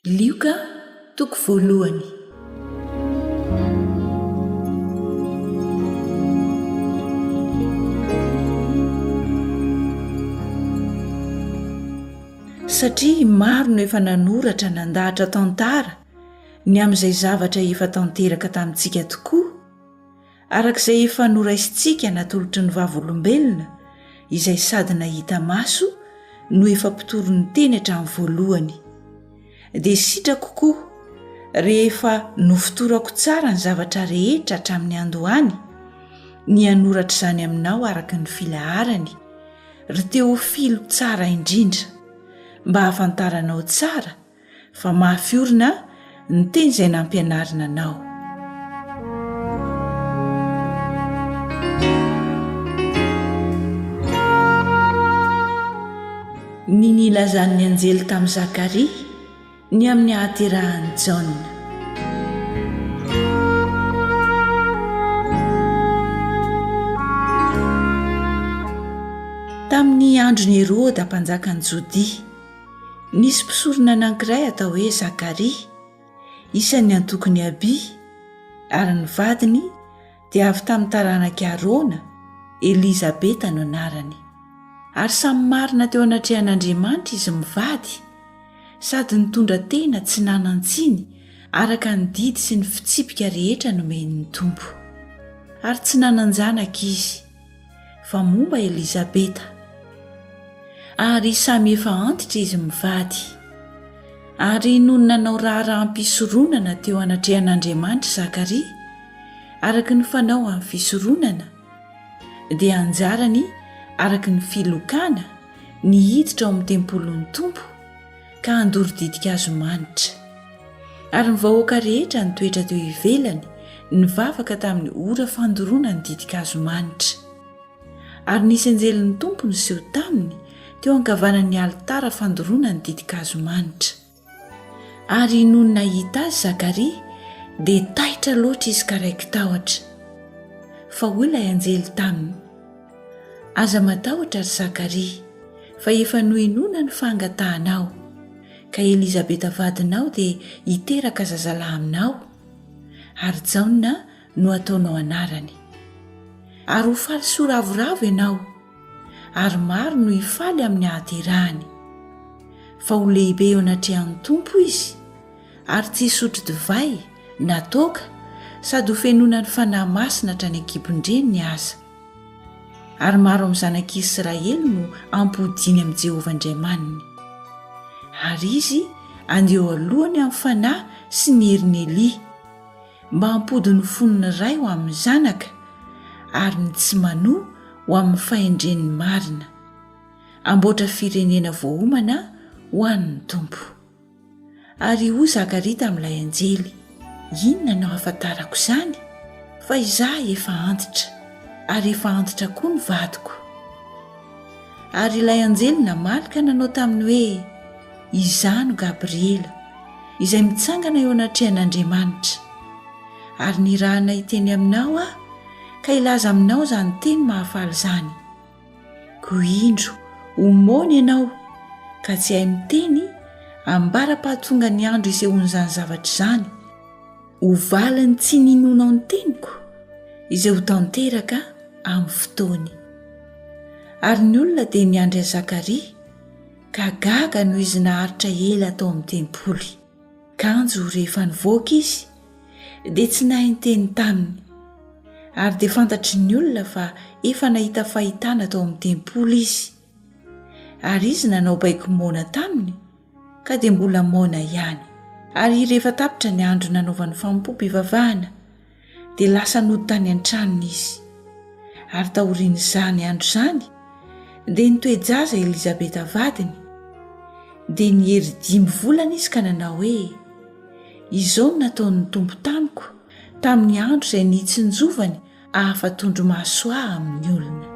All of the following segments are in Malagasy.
Lioka toko voalohany. Satria maro no efa nanoratra nandahatra tantara ny amin'izay zavatra efa tanteraka tamintsika tokoa, Araka izay efa noraisintsika natolotry ny Vavolombelona, izay sady nahita maso no efa mpitory ny Teny hatramin'ny voalohany, dia sitrako koa rehefa nofotorako tsara ny zavatra rehetra hatramin'ny andohany, ny hanoratra izany aminao araka ny filaharany, ry Teofilo tsara indrindra, mba hahafantaranao tsara fa mafy orina ny teny izay nampianarina anao ny nilazan'ny anjely tamin'i zakaria ny amin'ny hahaterahan'i jaona tamin'ny andron'i heroda mpanjakan'i jodia Nisy mpisorona anankiray atao hoe Zakaria, isan'ny antokon'i Abia, ary ny vadiny dia avy tamin'ny taranak'i Arona, Elizabeta no anarany. Ary samy marina teo anatrehan'Andriamanitra izy mivady, sady nitondra tena tsy nanan-tsiny araka ny didy sy ny fitsipika rehetra nomen'ny Tompo. Ary tsy nanan-janaka izy. fa momba Elizabeta. Ary samy efa antitra izy mivady. Ary nony nanao raharaham-pisoronana teo anatrehan'Andriamanitra i Zakaria, araka ny fanao amin'ny fisoronana, dia anjarany araka ny filokana ny hiditra ao amin'ny tempolin'ny Tompo, ka handoro ditin-kazo manitra. Ary ny vahoaka rehetra nitoetra teo ivelany nivavaka tamin'ny ora fandoroana ny ditin-kazo manitra. Ary nisy anjelin'ny Tompo niseho taminy teo ankavanan'ny alitara fandoroana ny ditin-kazo manitra. Ary nony nahita azy Zakaria dia taitra loatra izy ka raiki-tahotra. Fa hoy ilay anjely taminy. Aza matahotra, ry Zakaria, fa efa nohenoina ny fangatahanao, ka Elizabeta vadinao dia hiteraka zazalahy aminao, ary Jaona no hataonao anarany. Ary ho faly soa ravoravo ianao, ary maro no hifaly amin'ny hahaterahany. Fa ho lehibe eo anatrehan'ny Tompo izy, ary tsy hisotro divay na toaka, sady hofenoina ny Fanahy Masina hatrany an-kibon-dreniny aza. ary maro amin'ny zanak'i Israely no ampodiany amin'i Jehovah Andriamaniny, ary izy andeha eo alohany amin'ny fanahy sy ny herin'i Elia, mba hampody ny fon'ny ray ho amin'ny zanaka ary ny tsy manoa ho amin'ny fahendren'ny marina, hamboatra firenena voaomana ho an'ny Tompo. Ary hoy Zakaria tamin'ilay anjely, Inona no ahafantarako izany? Fa izaho efa antitra, ary efa antitra koa ny vadiko. Ary ilay anjely namaly ka nanao taminy hoe, Izaho no Gabriela, izay mitsangana eo anatrehan'Andriamanitra. Ary nirahana hiteny aminao aho, ka hilaza aminao izany teny mahafaly izany. Ko indro ho moana ianao ka tsy hay miteny ambara-pahatonga ny andro isehoan'izany zavatra izany, ho valin'ny tsy ninoanao ny teniko izay ho tanteraka amin'ny fotoany. Ary ny olona dia niandry an'i Zakaria ka gaga noho izy naharitra ela tao amin'ny tempoly. Kanjo rehefa nivoaka izy dia tsy nahay niteny taminy, ary dia fantatry ny olona fa efa nahita fahitana tao amin'ny tempoly izy. Ary izy nanao baiko moana taminy, ka dia mbola moana ihany. Ary rehefa tapitra ny andro nanaovany fanompoam-pivavahana, dia lasa nody tany an-tranony izy. Ary taorian'izany andro izany, dia nitoe-jaza Elizabeta vadiny. Dia niery dimy volana izy ka nanao hoe, Izao no nataon'ny Tompo tamiko tamin'ny andro izay nitsinjovany hahafa-tondromaso ahy amin'ny olona.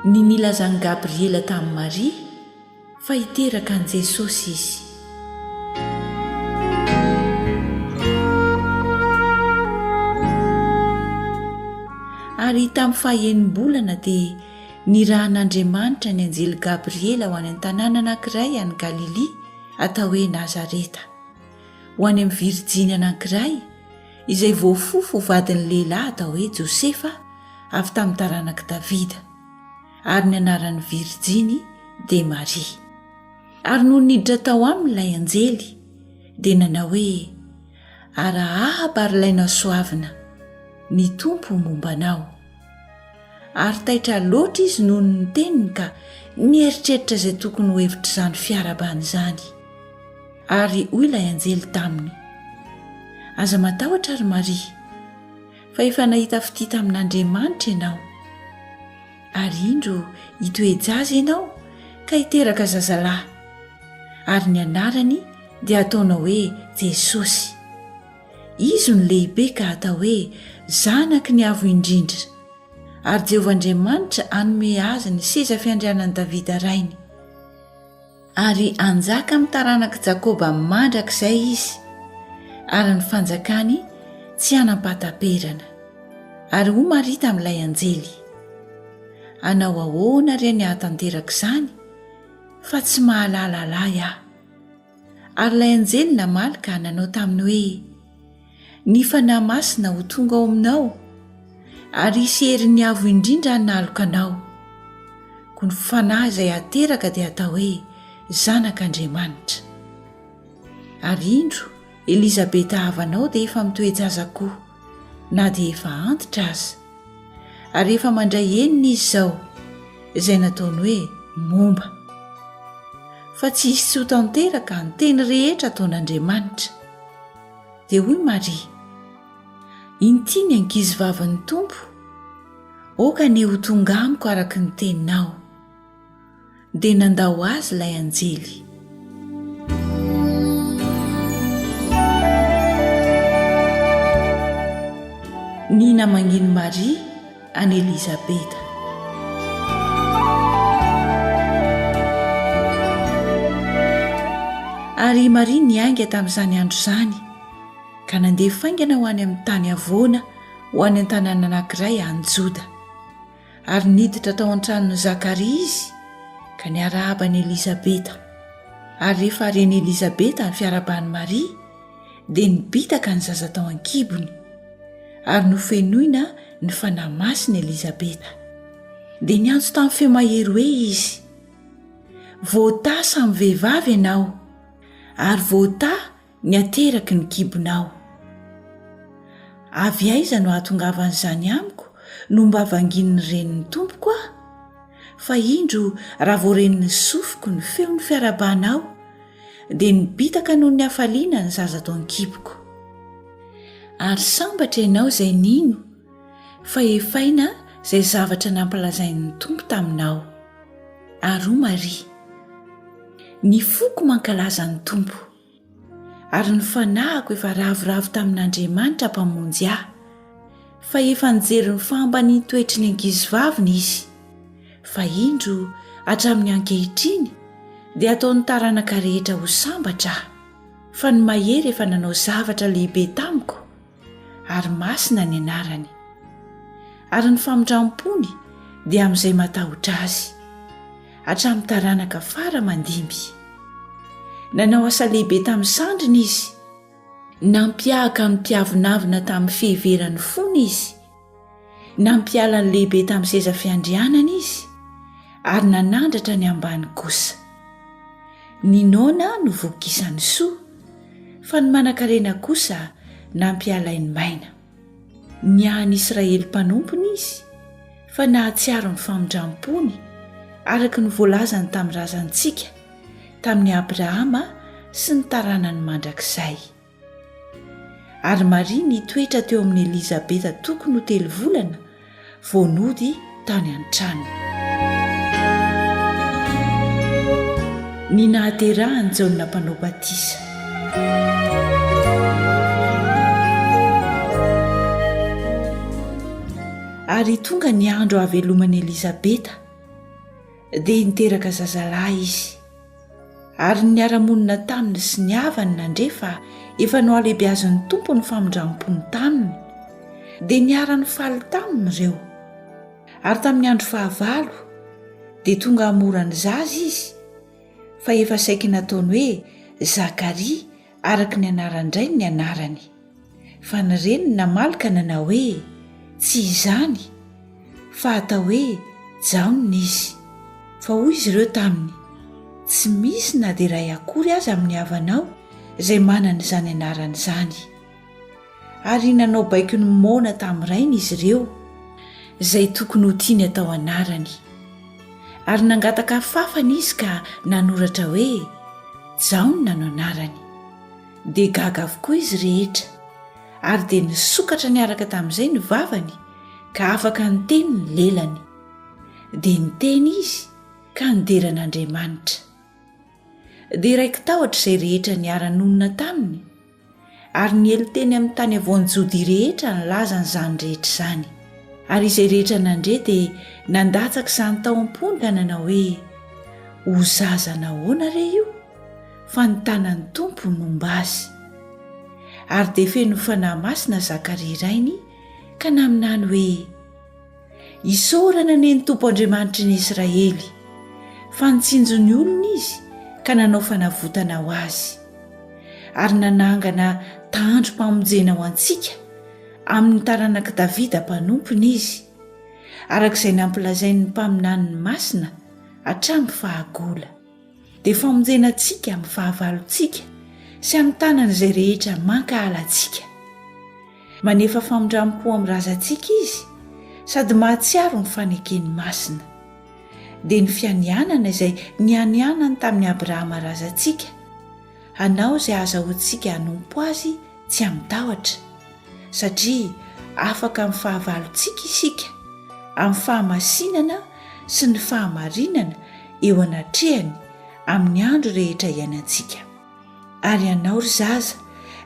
Ny nilazan'i Gabriela tamin'i Maria. Fa hiteraka an'i Jesosy izy. Ary tamin'ny fahaenim-bolana dia nirahan'Andriamanitra ny anjely Gabriela ho any an-tanàna anankiray any Galilia atao hoe Nazareta, ho any amin'ny virijiny anankiray izay voafofo ho vadin'ny lehilahy atao hoe Josefa avy tamin'ny taranak'i Davida. ary ny anaran'ny virjiny dia maria ary noho niditra tao aminy ilay anjely dia nanao hoe arahaba ary ilay nasoavina ny tompo momba anao ary taitra loatra izy noho ny teniny ka nieritreritra izay tokony ho hevitra izany fiarabana izany ary hoy ilay anjely taminy aza matahotra ry maria Fa efa nahita fitia tamin'Andriamanitra ianao, ary indro hitoe-jaza ianao ka hiteraka zazalahy, ary ny anarany dia hataonao hoe Jesosy. Izy no lehibe ka hatao hoe Zanaky ny Avo Indrindra, ary Jehovah Andriamanitra hanome azy ny seza fiandrianan'i Davida rainy. Ary hanjaka amin'ny taranak'i Jakoba mandrakizay izy, ary ny fanjakany tsy hanam-pahataperana. Ary hoy Maria tamin'ilay anjely, Hanao ahoana re ny hahatanteraka izany, fa tsy mahalala lahy aho? Ary ilay anjely namaly ka nanao taminy hoe, Ny Fanahy Masina ho tonga ao aminao, ary hisy herin'ny Avo Indrindra hanaloka anao. Koa ny Fanahy izay ateraka dia atao hoe Zanak'Andriamanitra. Ary indro, Elizabeta havanao dia efa mitoe-jaza koa, na dia efa antitra aza. Ary efa mandray enina izy izao, izay nataony hoe momba. Fa tsy hisy tsy ho tanteraka ny teny rehetra ataon'Andriamanitra. Dia hoy Maria, Inty ny ankizivavin'ny Tompo, aoka anie ho tonga amiko araka ny teninao. Dia nandao azy ilay anjely. Ny namangin'i Maria. an'i Elizabeta. Ary i Maria niainga tamin'izany andro izany, ka nandeha faingana ho any amin'ny tany havoana ho any an-tanàna anankiray any Joda. Ary niditra tao an-tranon'i Zakaria izy, ka niarahaba an'i Elizabeta. Ary rehefa ren'i Elizabeta ny fiarahaban'i Maria, dia nibitaka ny zaza tao an-kibony ary nofenoina ny fanahy masina elizabeta dia niantso tamin'ny feo mahery hoe izy voatà samy vehivavy ianao ary voatà ny ateraky ny kibonao avy aiza no ahatongavan'izany amiko no mba vangin'ny reniny tompoko a fa indro raha voarenin'ny sofiko ny feon'ny fiarabanao dia nibitaka noho ny hafaliana ny zaza tao an-kiboko ary sambatra ianao izay nino fa efaina izay zavatra nampilazain'ny tompo taminao ary ho maria ny foko mankalaza ny tompo ary ny fanahiko efa ravoravo tamin'andriamanitra mpamonjy ahy fa efa nijery ny fahambaniantoetry ny ankizivaviny izy Fa indro, hatramin'ny ankehitriny, dia ataon'ny taranaka rehetra ho sambatra aho, fa ny mahery efa nanao zavatra lehibe tamiko, ary masina ny anarany. Ary ny famindram-pony dia amin'izay matahotra azy, hatramin'ny taranaka fara aman-dimby. Nanao asa lehibe tamin'ny sandriny izy, nampiahaka ny mpiavonavona tamin'ny fiheveran'ny fony izy, Nampiala ny lehibe tamin'ny seza fiandrianana izy ary nanandratra ny ambany kosa. Ny noana no voky isan'ny soa fa ny manankarena kosa nampialain'ny maina. Niahan'ny Israely mpanompony izy fa nahatsiaro ny famindram-pony araka ny voalazany tamin'ny razantsika, tamin'i Abrahama sy ny taranany mandrakizay. Ary Maria nitoetra teo amin'i Elizabeta tokony ho telo volana vao nody tany an-tranony. Ny nahaterahan'i Jaona Mpanao Batisa. Ary tonga ny andro hahaveloman'i Elizabeta, dia niteraka zazalahy izy. Ary ny niara-monina taminy sy ny havany nandre fa efa nohalehibeazin'ny Tompo ny famindram-pony taminy, dia niara-nifaly taminy ireo. Ary tamin'ny andro fahavalo, dia tonga hamora ny zaza izy, fa efa saiky nataony hoe Zakaria, araka ny anaran-drainy ny anarany. Fa ny reniny namaly ka nanao hoe, Tsy izany, fa atao hoe Jaona izy. Fa hoy izy ireo taminy, Tsy misy na dia iray akory aza amin'ny havanao izay manana izany anarana izany. Ary nanao baiko ny moana tamin'ny rainy izy ireo, izay tokony ho tiany atao anarany. Ary nangataka afafana izy ka nanoratra hoe, Jaona no anarany. Dia gaga avokoa izy rehetra, ary dia nisokatra niaraka tamin'izay ny vavany ka afaka niteny ny lelany. Dia niteny izy ka nidera an'Andriamanitra. Dia raiki-tahotra izay rehetra niara-nonina taminy, ary niely teny amin'ny tany avoan'i Jodia rehetra ny laza an'izany rehetra izany. Ary izay rehetra nandre dia nandatsaka izany tao am-pony ka nanao hoe, Ho zaza nahoana re io? fa ny tanan'ny Tompo nomba azy. Ary dia feno Fanahy Masina Zakaria rainy ka naminany hoe, Isaorana anie ny Tompo Andriamanitry ny Israely, fa nitsinjo ny olony Izy ka nanao fanavotana ho azy, ary nanangana tahandrom-pamonjena ho antsika amin'ny taranak'i Davida mpanompony Izy, araka izay nampilazain'ny mpaminaniny masina hatramin'ny fahagola. dia famonjena antsika amin'ny fahavalontsika sy amin'ny tanany izay rehetra mankahala antsika. Manefa famindram-po amin'ny razantsika izy sady mahatsiaro ny fanekeny masina. Dia ny fianianana izay nianianany tamin'i Abrahama razantsika, hanao izay ahazahoantsika hanompo azy tsy amin-tahotra. satria afaka amin'ny fahavalontsika isika, amin'ny fahamasinana sy ny fahamarinana eo anatrehany amin'ny andro rehetra iainantsika. Ary ianao ry zaza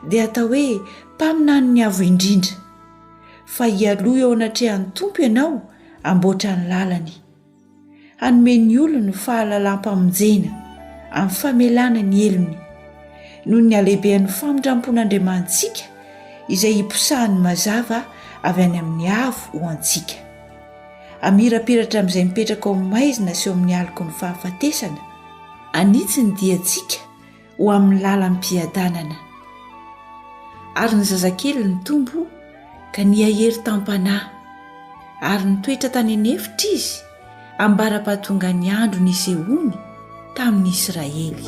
dia atao hoe mpaminanin'ny Avo Indrindra, fa hialoha eo anatrehan'ny Tompo ianao hamboatra ny lalany. hanome ny olony fahalalam-pamonjena amin'ny famelana ny helony noho ny halehibehan'ny famindrampon'Andriamanitsika izay hiposahany mazava avy any amin'ny avo ho antsika. Amirapiratra amin'izay mipetraka ao maizina sy ao amin'ny aloky ny fahafatesana, anitsy ny diantsika, ho amin'ny lalam-piadanana. Ary ny zazakely nitombo ka nihahery tam-panahy, ary nitoetra tany an'efitra izy ambara-pahatongan'ny andro nisehoany tamin'ny Israely.